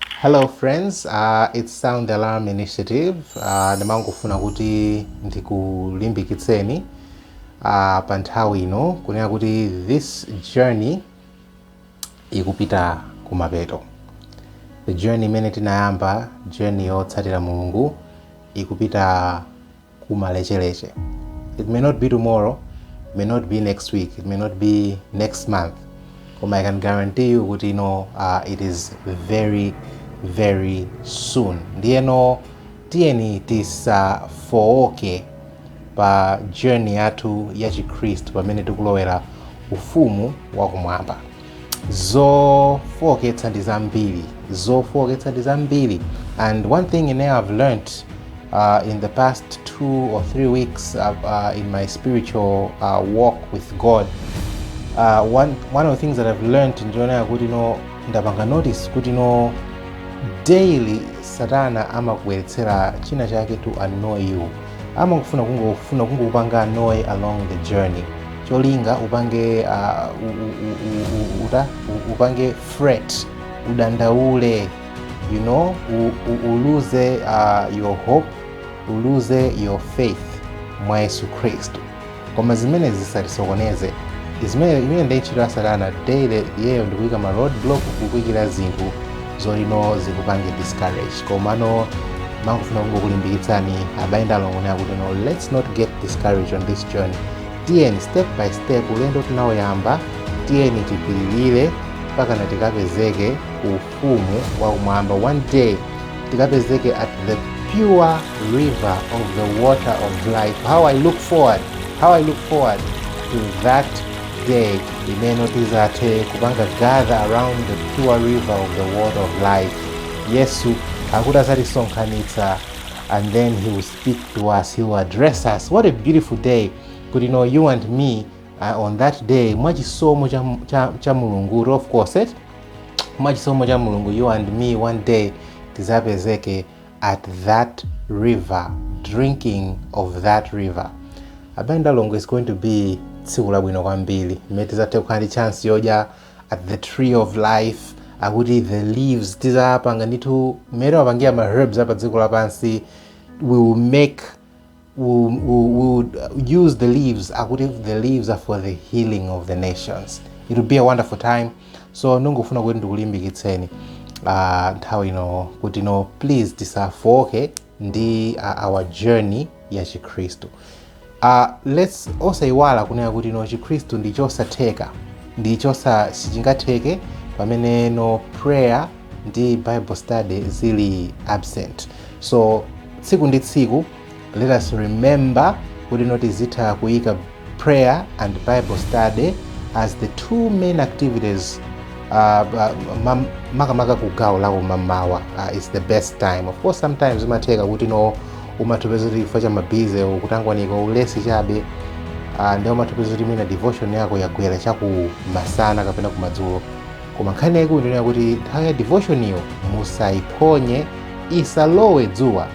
Hello friends, uh, it's Sound Alarm Initiative. Uh, ndimangofuna kuti ndikulimbikitseni uh, pa nthawi ino kunena kuti this journey ikupita kumapeto. The journey imene tinayamba, journey yotsatira Mulungu ikupita kumalecheleche it may not be tomorrow it may not be next week it may not be next month koma i can guarantee you kuti you know, uh, it is very very soon ndiyeno tiyeni tisafooke pa journey yathu ya chikhristu pamene tikulowera ufumu wakumwamba zofooketsa ndi zambiri zofooketsa ndi zambiri and one thing ine i've learned uh, in the past two or three weeks uh, uh, in my spiritual uh, walk with god uh, one, one of the things that i've learned ndi yonena kuti no ndapanga notice kuti no daily satana amakubweretsera china chake to annoy you amangofuna kungofuna kungokupanga noe along the journey cholinga upange uh, u, u, u, u, u, uta, u, upange fret udandaule you know u, u, uluze uh, your hope uluze your faith mwa yesu khristu koma zimenezi zisatisokoneze imene ndi ntchito ya satana daily iyeyo ndi kuyika ma road block kukuikira zinthu zoti no zikupange discourage komano ndimangofuna kungokulimbikitsani abale ndi alongo ine kuti no let's not get discouraged on this journey tiyeni step by step ulendo tinawuyamba tiyeni tipilire mpaka tikapezeke ku ufumu wakumwamba one day tikapezeke at the pure river of the water of life how i look forward how i look forward to that day imene tizathe kupanga gather around the pure river of the water of life yesu akuti azatisonkhanitsa and then he will speak to us he will address us what a beautiful day kuti no you and me uh, on that day mwa chisomo cha, cha, cha mulungu of course eh? mwa chisomo cha mulungu you and me one day tizapezeke at that river drinking of that river abale ndi alongo it's going to be tsiku labwino kwambiri mmene tizathe kukhala ndi chance yodya at the tree of life akuti the leaves tizapanga ndithu mmene amapangira ma herbs a pa dziko lapansi we will make We'll, we'll, we'll use the leaves akuti the leaves are for the healing of the nations it will be a wonderful time so ndikufuna kuti ndikulimbikitseni uh, nthawi ino kuti no please tisafooke ndi uh, our journey ya chikhristu uh, let's osayiwala kunena kuti no chikhristu ndi chosatheka ndi chosa sichingatheke pamene no prayer ndi bible study zili absent so tsiku ndi tsiku let us remember kuti no tizitha kuyika prayer and bible study as the two main activities uh, uh, mam- makamaka ku gawo la kumamawa uh, it's the best time of course sometimes zimatheka kuti no umatha kupeza kuti chifukwa cha mabize kutangwanika ulesi chabe uh, ndi umatha kupeza kuti mwina devotion yako yagwera cha kumasana kapena kumadzulo koma nkhani yaikulu ndinena kuti nthawi ya devotioniyo musaiphonye isalowe dzuwa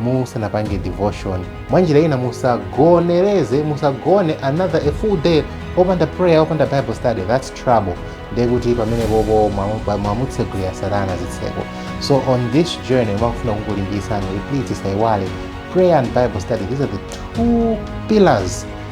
musanapange devotion mwa njira ina musagonereze musagone another a full day opanda prayer opanda bible study that's trouble ndiye kuti pamenepopo mwamutsegulira satana zitseko so on this journey mwakufuna kungolimbikitsani kuti please tisaiwale prayer and bible study these are the two pillars